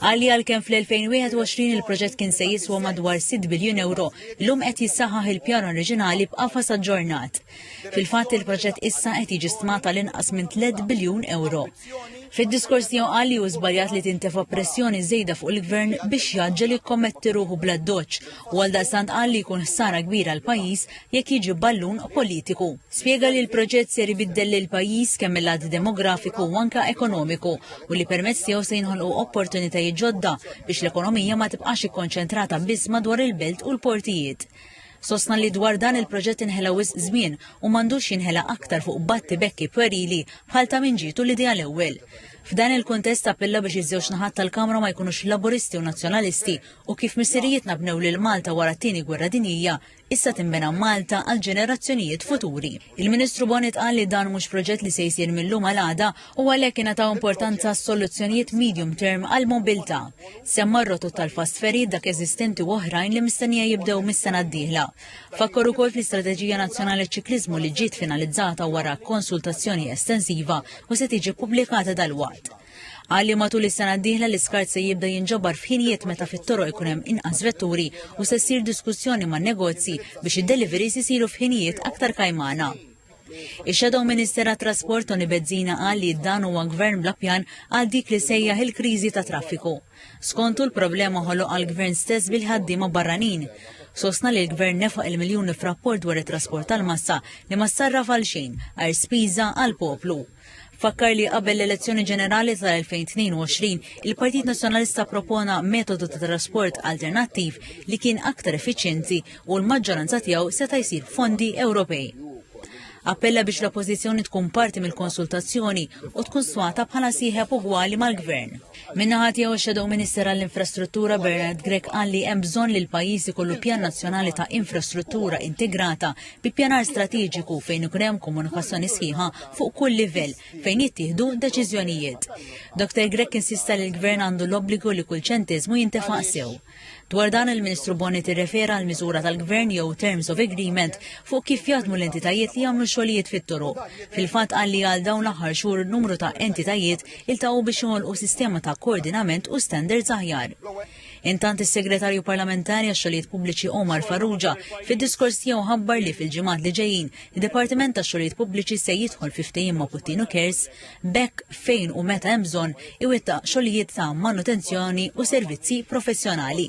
Qal li għalkemm fl-2021 il-proġett kien se jiswa madwar 6 biljun ewro, illum qed jissaħħaħ il-pjan oriġinali b'qafas aġġornat. Fil-fatt il-proġett issa qed jiġi stmat għal inqas minn 3 biljun ewro. Fid-diskors tiegħu qal li hu żbaljat li tintefa' pressjoni żejda fuq il-Gvern biex jaġġel jikkommetti ruħu bl-addoċċ u għaldaqstant qal li jkun ħsara kbira għall-pajjiż jekk jiġi ballun politiku. Spjega li l-proġett ser ibiddel lill-pajjiż kemm mill-lat demografiku u anke ekonomiku u li permezz tiegħu se jinħolqu opportunitajiet ġodda biex l-ekonomija ma tibqax ikkonċentrata biss madwar il-belt u l-portijiet. Sostna li dwar dan il-proġett inħela wisq żmien u m'għandux jinħela aktar fuq battibekki pwerili bħal ta' min ġietu l-idea l-ewwel. F'dan il-kuntest appella biex iż-żewġ naħat tal-Kamra ma jkunux Laburisti u Nazzjonalisti u kif missirijietna bnew lil Malta wara t-Tieni Gwerra Dinjija, issa tinbena Malta għal ġenerazzjonijiet futuri. Il-Ministru Bonnet qal li dan mhux proġett li se jsir mill-lum għal għada u għalhekk ingħataw importanza għas-soluzzjonijiet medium term għal mobilità. Semma r-rotot tal-fast ferry dak eżistenti u oħrajn li mistennija jibdew mis-sena d-dieħla. Fakkor ukoll fl-Istrateġija Nazzjonali Ċikliżmu li ġiet finalizzata wara konsultazzjoni estensiva u se tiġi ppubblikata dal-waqt. Qal li matul is-sena d-dieħla l-iskart se jibda jinġabar f'ħinijiet meta fit-toroq ikun hemm inqas vetturi u se ssir diskussjoni man-negozji biex id-deliveries isiru f'ħinijiet aktar kajmana. Ix-Shadow Minister għat-Trasport Tony Bezzina qal li dan huwa gvern bla pjan għal dik li sejjaħ il-kriżi ta' traffiku. Skontu l-problema ħoloq għall-gvern stess bil-ħaddiema barranin. Sostna li l-gvern nefaq il-miljuni f'rapport dwar it-trasport tal-massa li ma sarraf għal xejn għajr spiża għall-poplu. Fakkar li qabel l-elezzjoni ġenerali tal-2022, il-Partit Nazzjonalista propona metodu ta' trasport alternattiv li kien aktar effiċjenti u l-maġġoranza tiegħu seta' jsir fondi Ewropej. Appella biex l-oppożizzjoni tkun parti mill-konsultazzjoni u tkun swata bħala sieħeb ugwali mal-gvern. Minnaħa tiegħu Shadow Minister għall-Infrastruttura Bernard Grek qal li hemm bżonn li l-pajjiż ikollu pjan nazzjonali ta' infrastruttura integrata bi pjanar strateġiku fejn ikun hemm komunikazzjoni sħiħa fuq kull livell fejn jittieħdu deċiżjonijiet. Dr. Grech insista li l-Gvern għandu l-obbligu li kull ċentiżmu jintefaq sew. Dwar dan il-Ministru Boni tirrefera għal miżura tal-Gvern jew Terms of Agreement fuq kif jaħdmu l-entitajiet li jagħmlu xogħlijiet fit-toro. Fil-fatt qal li għal dawn l-aħħar xhur numru ta' entitajiet iltaqgħu biex joħolqu sistema ta' koordinament u standards aħjar. Intant is-Segretarju Parlamentari għax-Xogħlijiet Pubbliċi Omar Farrugia fid-diskors tiegħu ħabbar li fil-ġimgħat li ġejjin id-Dipartiment tax-Xogħlijiet Pubbliċi se jidħol fi ftehim ma' Puttinu Cares b'hekk fejn u meta hemm bżonn iwettaq xogħlijiet ta' manutenzjoni u servizzi professjonali.